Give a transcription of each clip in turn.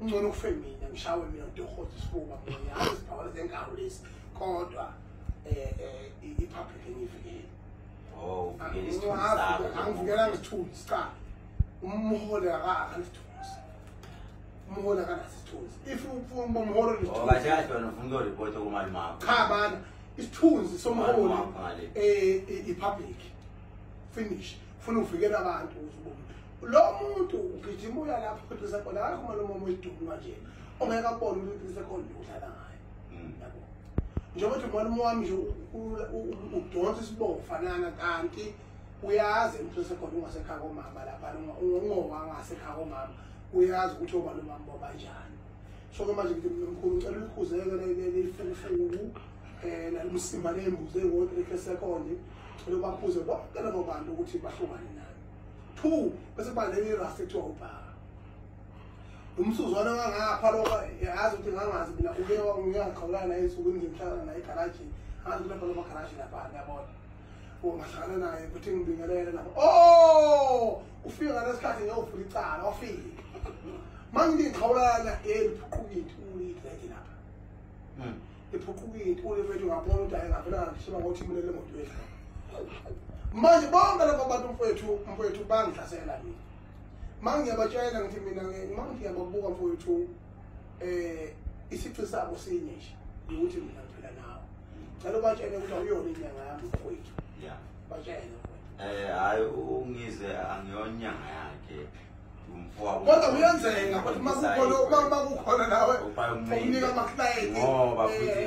ungcono kufe mina ngishawe mina ntohoza isifuba mina hayi sibhawala zenkawu lesi kodwa eh, eh, i-public engiyivikele oh, angivikela ngisithuli sicala umhole akakha nesithunzi umhole akanaso isithunzi if ufuna uba umhole nesithunziabana oh, isithunzi somholi um eh, i-public finish funa uvikela abantu lo muntu ugijima uya lapho uqinise khona akakho uma lomama uyiduma nje ongeke abone ukuthi uqinise khona nje udlala ngayo hmm. yabo njengoba uthi mwana wami nje udonsa isibovu fanana kanti uyazi uqinise khona ungasekhaya komama lapha ungongowa ngasekhaya komama uyazi ukuthi oba lo mama babanjani so ke manje ngithi mkhulu ngicela ulikhuzeke lelifelefelu um eh, nalimsimba leyimbuzi engodwa ekhesekhonde cela ubakhuze bonke labo bantu ukuthi bahlukane phu bese kuba lenye irasta ekuthiwa ubhaka umsuzwana wangapha lokho yazi ukuthi ngangazi mina uke ngiyaqhawulana esukwini ngimhlala naye egarajini angazi ukuthi lapha lomagaraji lapha ngiyabona ungahlangana naye ukuthi ngibingelele lapha o oh! ufike ngalesikhathi ngiyovula icala wafike mangindingixhawulana yeli phuqukile uyithi lapha hmm. ephuqukile ulefethu ngabona ukuthi ayengavela ngishiba ngokuthi mina le moto yethu manje bonke labo bantu mfowethu mfowethu bangihlasela mina uma ngiyabatshela ngithi mina uma ngiyababuka mfowethu um isici sabo sinye nje ukuthi mina ngiphila nawo cela ubatshele ukuthi awuyona inyanga yami mfowethu batshele um eh, hhayi ungize angiyona inyanga yakhe kodwa kuyenzeka ukuthi makukhona uma kukhona nawe umnika amakilayentinjengoba futhi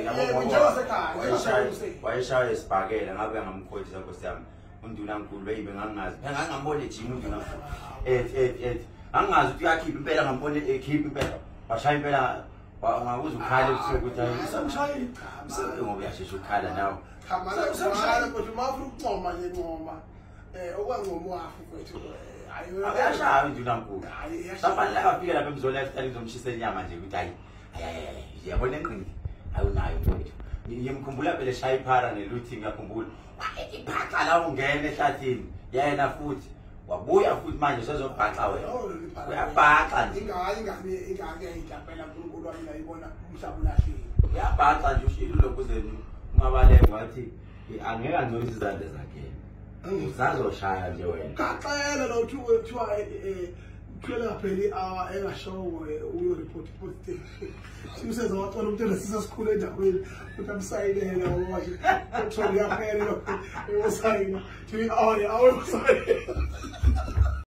wayeshaye esibhakela ngabe ngamkhothisa nkosi yami undunankulu beyibe ngangingazi phela ngangingambona ejima undunankulu et et et ngangingazi ukuthi uyakhipha impela ngambona ekhipha impela washaya impela ngakuze ukhale ebusuku ukuthi ngoba uyashesha ukukhala nawe usemshayile kodwa uma ufuna ukuncoma nje ncoma Eh okwancomo wakho mfethu. Eh, Akashayi nje unankulu. Safanele afike lapha emzona yasitali ngizomshisa inyama nje ukuthi hayi. Hayi yabona enqindi. Awunayo mfethu. Ngiyemkhumbula phela shaya iphara neluthi ngiyakhumbula. Iphaxa la ungena ehlathini. Yena futhi wabuya futhi manje sezobhaxa wena oh, uyabhaxa nje ingayi ingane ingane ihlapela uNkulunkulu wami la ibona umhlaba ulahlile uyabhaxa nje ushilo lokuzeni umabalenge wathi angeke angcolisa izandla zakhe usazoshaya nje wena kaxele lo uthi kuthiwa kuphela ngaphela i-hour engashowo uyoreport positive simseza wacela umntu enesisa sikhulu endaweni ukuthi amsayinele washo uthole yaphela usayina to i-hour i-hour usayina